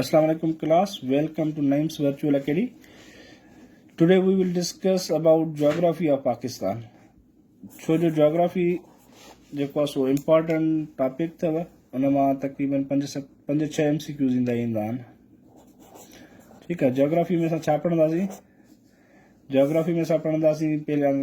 السلام عليڪم class welcome to Naeem's virtual academy today we will discuss about geography of Pakistan ڇو جو جاگرافي جيڪو آهي سو امپارٽنٹ ٽاپڪ اٿو ان مان تقريبن پنج ست پنج ڇهه ايم سي ڪيوز ايندا ايندا آهن ٺيڪ آهي جاگرافي ۾ اسان ڇا پڙهنداسين جاگرافي ۾ اسان پڙهنداسين پهريان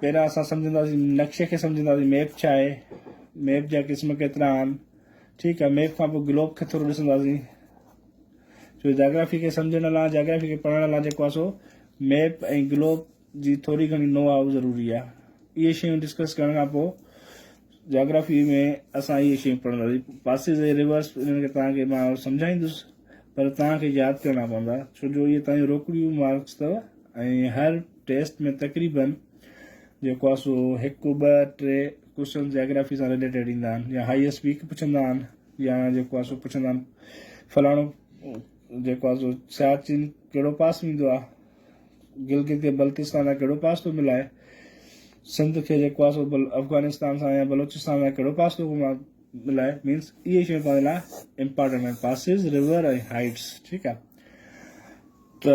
پهريان اسان سمجهنداسين نقشي کي سمجهنداسين ميپ ڇا آهي ميپ جا قسم ڪيترا آهن ٺيڪ آهي ميپ کان پوء گلوب کي ٿورو ڏسنداسين جو جاگرافي کي سمجهڻ لاء جاگرافي کي پڙهڻ لاء جيڪو آسو ميپ ۽ گلوب جي ٿوري گهڻي نو آء ضروري آهي اهي شيون ڊسڪس ڪرڻ کان پوء جاگرافي ۾ اسان اهي شيون پڙهنداسين. پاسيز ۽ ريورس انهن کي توهان کي مان سمجهائيندس پر توهان کي ياد ڪرڻا پوندا ڇو جو اهي توهان جون روڪڙيون مارڪس اٿو ۽ هر ٽيسٽ ۾ تقريباً جيڪو آهي سو هڪ ٻه ٽي ڪوشچنس جاگرافي سان ريليٽيڊ ايندا آهن يا هائيس ويڪ پڇندا آهن يا جيڪو آهي سو پڇندا آهن فلاڻو جيڪو آهي سو سياچين ڪهڙو پاس ويندو آهي گلگت يا بلتستان سان ڪهڙو پاسو ملائي؟ سنڌ کي جيڪو آهي سو افغانستان سان يا بلوچستان سان ڪهڙو پاسو ملائي مينس اهي شيون پنهنجي لاء امپارٽنٽ آهن پاسز رور ۽ هائيٽس ٺيڪ آهي ته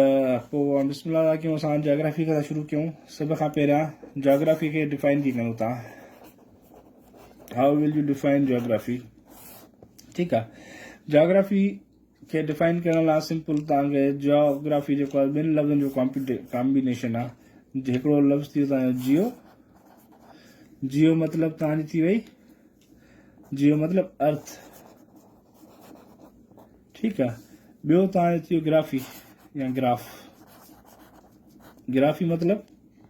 پوء بسم الله ٿا ڪيون اسان جاگرافي کان شروع ڪيون سڀ کان پهريان جاگرافي کي ڊيفائن ڪي ڪيون تان how will you define geography ٺيڪ آهي جاگرافي کي ڊفائن ڪرڻ لاء سمپل تان کي جيوگرافي جيڪو آهي ٻن لفظن جو ڪامبينيشن آهي هڪڙو لفظ ٿي ويو تان جو جيو جيو مطلب تان جي ٿي وئي جيو مطلب ارٿ ٺيڪ آهي ٻيو تان جو ٿي ويو گرافي يا گراف گرافي مطلب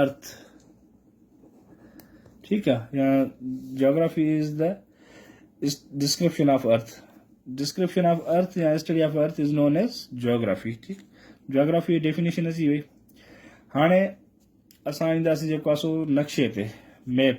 ارٿ ٺيڪ آ يا geography is the description of earth description of earth يا study of earth is known as geography ٺيڪ جاگرافي ڊيفينيشن اچي وئي هاڻي اسان اينداسي جيڪو آسو نقشي تي ميپ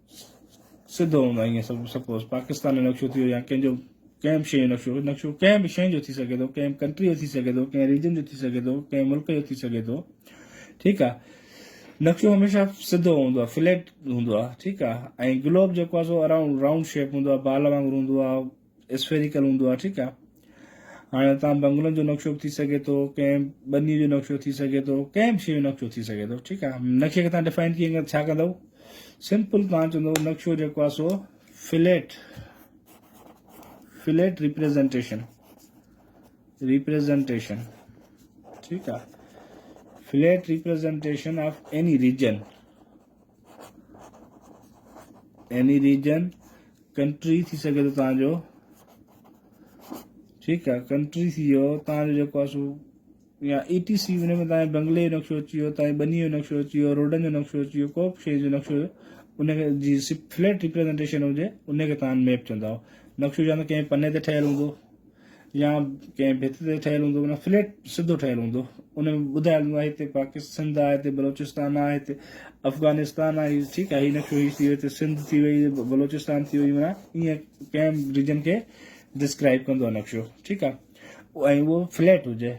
سڌو هوندو آهي ائين سپوز پاڪستان جو نقشو ٿيو يا ڪنهن جو ڪنهن به شيء جو نقشو نقشو ڪنهن به شيء جو ٿي سگهي ٿو ڪنهن ڪنٽري جو ٿي سگهي ٿو ڪنهن ريجن جو ٿي سگهي ٿو ڪنهن ملڪ جو ٿي سگهي ٿو ٺيڪ آ نقشو هميشه سڌو هوندو آهي فليٽ هوندو آهي ٺيڪ آهي ۽ گلوب جيڪو آهي سو اراؤنڊ راؤنڊ شيپ هوندو آهي بال وانگر هوندو آهي اسفيريڪل هوندو آهي ٺيڪ آهي هاڻي تان بنگلن جو نقشو به ٿي سگهي ٿو ڪنهن ٻني جو نقشو ٿي سگهي ٿو ڪنهن به شيء جو نقشو ٿي سگهي ٿو ٺيڪ آهي نقشي کي تان ڊفائن ڪيئن ڪندو ڇا ڪندو سمپل تان چوندو نقشو جيڪو آهي سو فليٽ فليٽ ريپريزنٽيشن ريپريزنٽيشن ٺيڪ آهي flat representation of any region يعني ريجن ڪنٽري ٿي سگهي ٿو تان جو ٺيڪ آ ڪنٽري ٿي ويو تان جو جيڪو آ سو يا اي ٽي سي ان ۾ تان بنگلي جو نقشو اچي ويو تان بني جو نقشو اچي ويو روڊن جو نقشو اچي ويو ڪو به شيء جو نقشو ان کي جي سي فليٽ ريپريزنٽيشن هجي ان کي تان ميپ چونداو نقشو يا ته ڪنهن پني تي ٺهيل هوندو يا ڪنهن ڀت تي ٺهيل هوندو معنيٰ فليٽ سڌو ٺهيل هوندو ان ۾ ٻڌايل هوندو آهي هتي پاڪستان سنڌ آهي هتي بلوچستان آهي هتي افغانستان آهي ٺيڪ آهي هي نقشو هي ٿي ويو هتي سنڌ ٿي وئي بلوچستان ٿي وئي معنيٰ ائين ڪنهن ريجن کي ڊسڪرائب ڪندو آهي نقشو ٺيڪ آهي ۽ اهو فليٽ هجي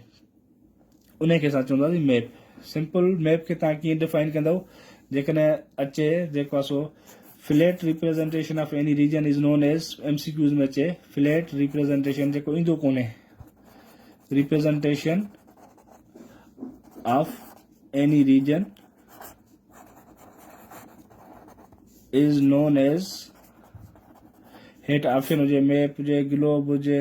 انهي کي اسان چونداسين ميپ. سمپل ميپ کي توهان ڪيئن ڊفائن ڪندؤ؟ جيڪڏهن اچي جيڪو آهي سو flat representation of any region is known as M C Qs ۾ اچي فليٽ ريپريزنٽيشن جيڪو ايندو ڪونهي representation of any region is known as هيٺ آپشن هجي ميپ هجي گلوب هجي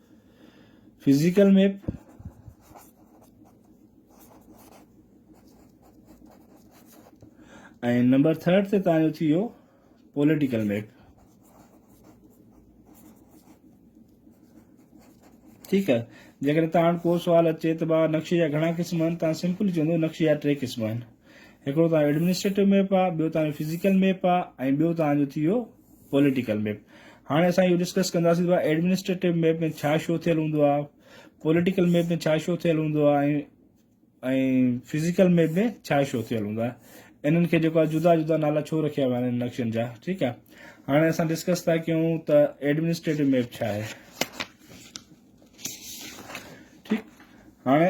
فزيڪل ميپ، ۽ نمبر ٿرڊ تي تان جو ٿي ويو پوليٽيڪل ميپ ٺيڪ آهي جيڪڏهن تان ڪو سوال اچي ته بابا نقشي جا گهڻا قسم آهن تان سمپل چوندو نقشي جا ٽي قسم آهن هڪڙو تان ايڊمنسٽريٽو ميپ آهي ٻيو تان فزيڪل ميپ آهي ۽ ٻيو تان جو ٿي ويو پوليٽيڪل ميپ هاڻي اسان اهو ڊسڪس ڪنداسين ته ايڊمنسٽريٽو ميپ ۾ ڇا شو ٿيل هوندو آهي پوليٽيڪل ميپ ۾ ڇا شو ٿيل هوندو آهي ۽ فزيڪل ميپ ۾ ڇا شو ٿيل هوندو آهي انهن کي جيڪو جدا جدا نالا ڇو رکيا ويا آهن نقشن جا ٺيڪ آهي هاڻي اسان ڊسڪس ٿا ڪيون ته ايڊمنسٽريٽو ميپ ڇا آهي ٺيڪ هاڻي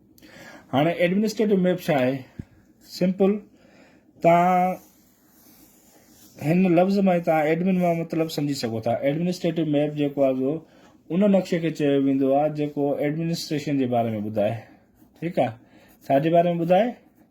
هاڻي ايڊمنسٽريٽو ميپ ڇا آهي؟ سمپل توهان هن لفظ مان توهان ايڊمن مان مطلب سمجهي سگهو ٿا ايڊمنسٽريٽو ميپ جيڪو آهي ان نقشي کي چيو ويندو آهي جيڪو ايڊمنسٽريشن جي باري ۾ ٻڌائي ٺيڪ آهي ڇا جي باري ۾ ٻڌائي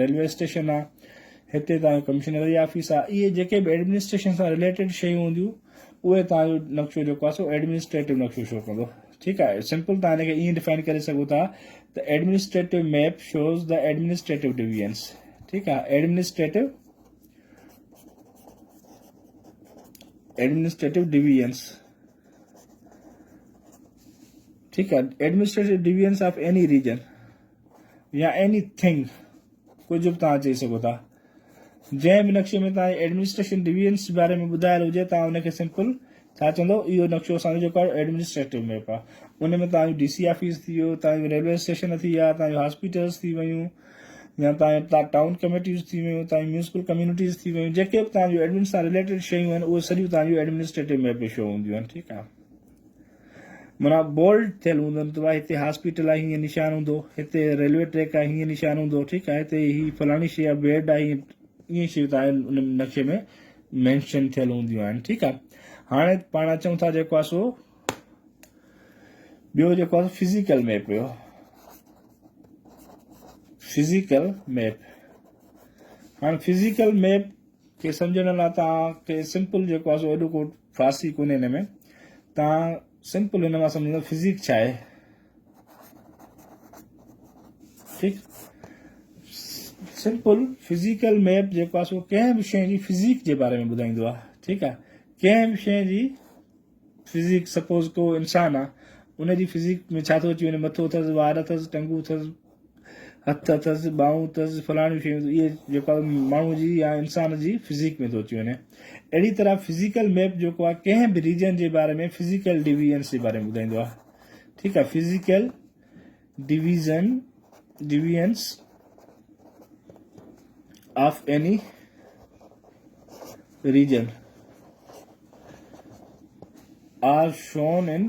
ريلوي اسٽيشن آ هتي تان ڪمشنر جي آفيس آ اهي جيڪي به ايڊمنسٽريشن سان ريليٽيڊ شيون هونديون اهي تان جو نقشو جيڪو آ سو ايڊمنسٽريٽو نقشو شو ڪندو ٺيڪ آ سمپل تان هن کي ايئن ڊيفائن ڪري سگهو ٿا ته administrative map shows the administrative divisions ٺيڪ آ ايڊمنسٽريٽو ايڊمنسٽريٽو ڊويزنس ٺيڪ آ administrative divisions of any region يا ايني ٿنگ ڪجهه به توهان چئي سگهو ٿا جنهن به نقشي ۾ توهان جي ايڊمنسٽريشن ڊويزنس جي باري ۾ ٻڌايل هجي توهان ان کي سمپل ڇا چوندو اهو نقشو اسان جو جيڪو ايڊمنسٽريٽو ميپ آ ان ۾ توهان جو ڊي سي آفيس ٿي ويو توهان جو ريلوي اسٽيشن ٿي ويا توهان جو هاسپيٽلز ٿي ويون يا توهان جو ٽائون ڪميٽيز ٿي ويون توهان جون ميونسپل ڪميونٽيز ٿي ويون جيڪي به توهان جو ايڊمن سان ريليٽيڊ شيون آهن اهي سڄيون توهان جون ايڊمنسٽريٽو ميپ ۾ شو هونديون آهن ٺيڪ آهي معنيٰ بولڊ ٿيل هوندن ته ڀاء هتي هاسپيٽل آهي هيئن نشان هوندو هتي ريلوي ٽريڪ آهي هيئن نشان هوندو ٺيڪ آهي هتي هي فلاڻي شيء آهي بيڊ آهي ائين شيون تاهي ان نقشي ۾ مينشن ٿيل هونديون آهن ٺيڪ آهي هاڻي پاڻ اچون ٿا جيڪو آهي سو ٻيو جيڪو آهي فزيڪل ميپ هيو فزيڪل ميپ هاڻي فزيڪل ميپ کي سمجھڻ لاء تاکي سمپل جيڪو آهي سو ايڏو ڪو فارسي ڪونهي هن ۾ تان سمپل هن مان سمجھندو فزيڪ ڇا آهي ٺيڪ سمپل فزيڪل ميپ جيڪو آهي سو ڪنهن به شيء جي فزيڪ جي باري ۾ ٻڌائيندو آهي ٺيڪ آهي ڪنهن به شيء جي فزيڪ سپوز ڪو انسان آهي ان جي فزيڪ ۾ ڇا ٿو اچي وڃي مٿو اٿس وار اٿس ٽنگون اٿس هٿ اٿس، ٻانهون اٿس، فلاڻيون شيون اٿس، اهي جيڪو ماڻهو جي يا انسان جي فزيڪ ۾ ٿو اچي وڃي. اهڙي طرح فزيڪل ميپ جيڪو آهي ڪنهن به ريجن جي باري ۾ فزيڪل ڊويزنس جي باري ۾ ٻڌائيندو آهي. ٺيڪ آهي physical division divisions of any region are shown in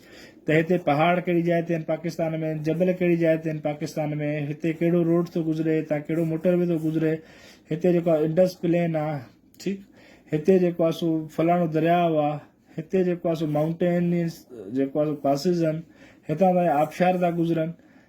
ته هتي پهاڙ ڪهڙي جاء تي آهن پاڪستان ۾، جبل ڪهڙي جاء تي آهن پاڪستان ۾، هتي ڪهڙو روڊ ٿو گذري، هتان ڪهڙو موٽر وي ٿو گذري، هتي جيڪو آهي انڊس پلين آ ٺيڪ، هتي جيڪو آهي سو فلاڻو درياء آ، هتي جيڪو آهي سو مائونٽينس جيڪو آهي سو پاسز آهن، هتان تائين آبشار ٿا گذرن،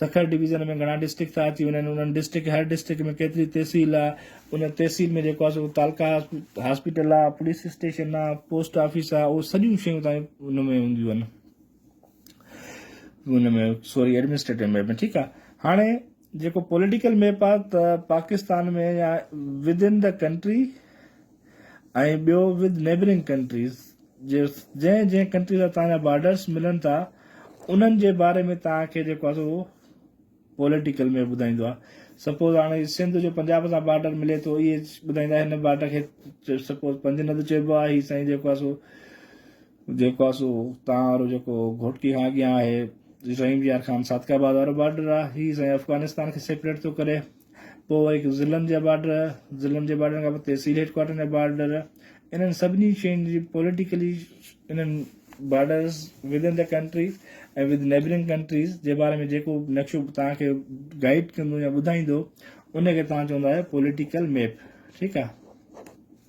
سکر ڊويزن ۾ گهڻا ڊسٽرڪٽ ٿا اچي وڃن انهن ڊسٽرڪٽ هر ڊسٽرڪٽ ۾ ڪيتري تحصيل آ ان تحصيل ۾ جيڪو آ سو تعلقا هاسپيٽل آ پوليس اسٽيشن آ پوسٽ آفيس آ اهو سڄيون شيون تائين ان ۾ هونديون آهن ان ۾ سوري ايڊمنسٽريٽو ميپ ۾ ٺيڪ آ هاڻي جيڪو پوليٽيڪل ميپ آ ته پاڪستان ۾ يا ود ان دا ڪنٽري ۽ ٻيو with neighbouring countries جنهن جنهن ڪنٽري سان توهان جا بارڊرس ملن ٿا انهن جي باري ۾ توهان کي جيڪو آهي سو پوليٽيڪل ۾ ٻڌائيندو آهي سپوز هاڻي سنڌ جو پنجاب سان بارڊر ملي ٿو اهي ٻڌائيندا هن بارڊر کي سپوز پنج ند چئبو آهي هي سائين جيڪو آهي سو جيڪو آهي سو تان وارو جيڪو گھوٽڪي کان اڳيان آهي رحيم يار خان صادق آباد وارو بارڊر آهي هي سائين افغانستان کي سيپريٽ ٿو ڪري پوء هڪ ضلعن جا بارڊر، ضلعن جي بارڊرن کان پوء تحصيل هيڊ ڪوارٽرن جا بارڊر، انهن سڀني شين جي پوليٽيڪلي انهن بارڊرز ودن دي ڪنٽري ۽ وڌ نيبرنگ ڪنٽريز جي باري ۾ جيڪو به نقشو توهان کي گائيڊ ڪندو يا ٻڌائيندو ان کي توهان چوندا آهيو پوليٽيڪل ميپ ٺيڪ آهي.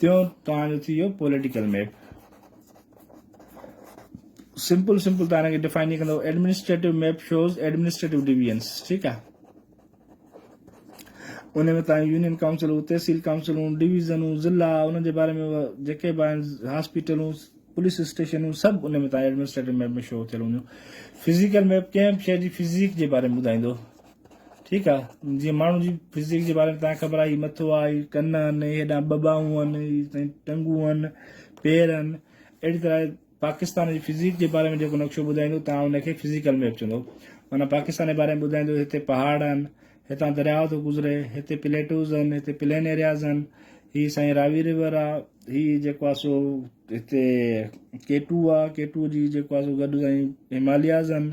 تيون توهان جو ٿي ويو پوليٽيڪل ميپ سمپل سمپل تان کي ڊيفائن ڪيئن ڪندو administrative map shows administrative divisions ٺيڪ آ ان ۾ تان يونين ڪائونسل تحصيل ڪائونسلون ڊويزنون ضلع ان جي باري ۾ جيڪي به هاسپيٽلون پوليس اسٽيشنون سڀ ان ۾ تان ايڊمنسٽريٽو ميپ ۾ شو ٿيل هونديون فزيڪل ميپ ڪنهن به شهر جي فزيڪ جي باري ۾ ٻڌائيندو ٺيڪ آ جيئن ماڻهو جي فزڪ جي باري ۾ تان خبر آهي مٿو آ هي ڪن آهن هيڏا ٻه ٻانهون آهن هي سائين ٽنگون آهن پير آهن اهڙي طرح پاڪستان جي فزڪ جي باري ۾ جيڪو نقشو ٻڌائيندو تان ان کي فزيڪل ميپ چوندو معنی پاڪستان جي باري ۾ ٻڌائيندو هتي پهاڙ آهن هتان درياء ٿو گذري هتي پليٽوز آهن هتي پلين ايرياز آهن هي سائين راوي ريور آ هي جيڪو آ سو هتي ڪيٽو آ ڪيٽو جي جيڪو آ سو گڏ سائين همالياز آهن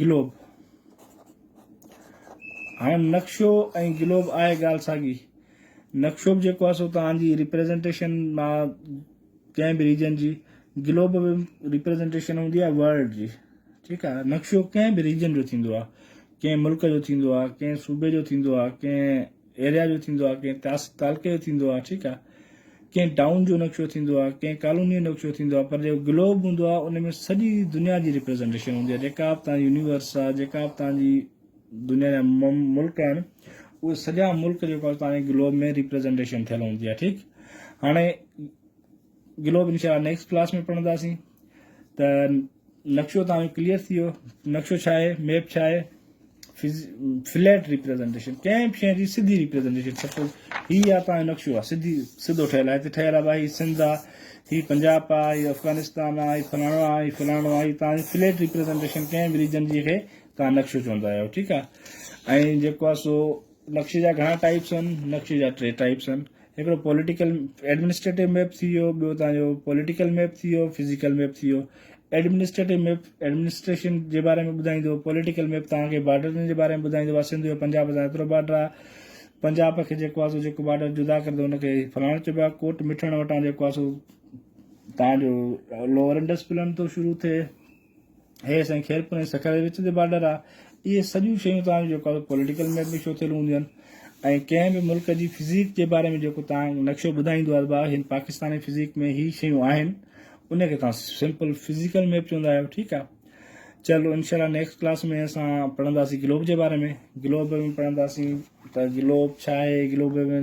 گلوب هاڻ نقشو ۽ گلوب آهي ڳالهه ساڳي نقشو به جيڪو آهي سو توهان جي ريپريزنٽيشن مان ڪنهن به ريجن جي گلوب به ريپريزنٽيشن هوندي آهي ورلڊ جي ٺيڪ آهي نقشو ڪنهن به ريجن جو ٿيندو آهي ڪنهن ملڪ جو ٿيندو آهي ڪنهن صوبي جو ٿيندو آهي ڪنهن ايريا جو ٿيندو آهي ڪنهن تعلقي جو ٿيندو آهي ٺيڪ آهي ڪنهن ٽائون جو نقشو ٿيندو آهي ڪنهن ڪالوني جو نقشو ٿيندو آهي پر جيڪو گلوب هوندو آهي ان ۾ سڄي دنيا جي ريپريزنٽيشن هوندي آهي جيڪا به تنهنجي يونيورس آهي جيڪا به تنهنجي دنيا جا ملڪ آهن اهي سڄا ملڪ جيڪو تنهنجي گلوب ۾ ريپريزنٽيشن ٿيل هوندي آهي ٺيڪ هاڻي گلوب انشاء الله نيڪسٽ ڪلاس ۾ پڙهنداسين ته نقشو تان ڪليئر ٿي ويو نقشو ڇا آهي ميپ ڇا آهي فليٽ ريپريزنٽيشن ڪنهن بي شيء جي سڌي ريپريزنٽيشن سپوز هي آ تان نقشو آ سڌي سڌو ٺهيل آهي هتي ٺهيل آ بھي سنڌ آ هي پنجاب آ هي افغانستان آ هي فلاڻو آ هي فلاڻو آ هي تان فليٽ ريپريزنٽيشن ڪنهن بي ريجن جي کي تان نقشو چوندا آهيو ٺيڪ آ ۽ جيڪو آ سو نقشي جا گهڻا ٽائيپس هئن، نقشي جا ٽي ٽائيپس هئن، هڪڙو پوليٽيڪل ايڊمنسٽريٽو ميپ ٿي ويو، ٻيو تان جو پوليٽيڪل ميپ ٿي ويو، فزيڪل ميپ ٿي ويو. ايڊمنسٽريٽو ميپ ايڊمنسٽريشن جي باري ۾ ٻڌائيندو، پوليٽيڪل ميپ توهان کي بارڊرن جي باري ۾ ٻڌائيندو ڀا سنڌ جو پنجاب سان ايترو بارڊر آهي، پنجاب کي جيڪو آهي سو جيڪو بارڊر جدا ڪري ٿو ان کي فلاڻو چئبو آهي، ڪوٽ مٺڻ وٽان جيڪو آهي سو تان جو لوئر انڊس پلن ٿو شروع ٿئي، هيء سائين خيرپور ۽ سکر جي وچ تي بارڊر آ. اهي سڄيون شيون توهان جي جيو پوليٽيڪل ميپ ۾ شوٿيل هونديون ۽ ڪنهن به ملڪ جي فزيڪ جي باري ۾ جيڪو توهان نقشو ٻڌائيندو آ ته ڀاء هن پاڪستاني فزيڪ ۾ هي شيون آهن ان کي توهان سمپل فزيڪل ميپ چوندا آهيو ٺيڪ آ چلو انشاءالله نيڪسٽ ڪلاس ۾ اسان پڙهنداسين گلوب جي باري ۾ گلوب ۾ پڙهنداسين ته گلوب ڇا آهي گلوب ۾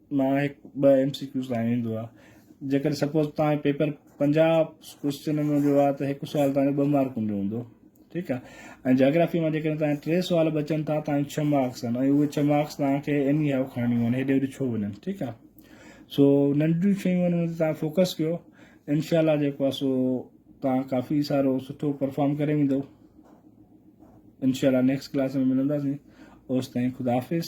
مان هڪ ٻه ايم سي ڪيوز لاء ايندو آهي جيڪڏهن سپوز تان جو پيپر پنجاهه ڪوشچنن جو آهي ته هڪ سوال تان جو ٻه مارڪن جو هوندو ٺيڪ آهي ۽ جاگرافي مان جيڪڏهن تان ٽي سوال بچن ٿا تان ڇهه مارڪس آهن ۽ اهي ڇهه مارڪس تان کي ايم اي هاء کڻڻيون آهن هيڏي هيڏي ڇو وڃن ٺيڪ آهي سو ننڍيون شيون آهن ان تان فوڪس ڪيو انشاء الله جيڪو آهي سو تان ڪافي سارو سٺو پرفارم ڪري ويندو انشاء الله نيڪسٽ ڪلاس ۾ ملنداسين اوس تائين خدا حافظ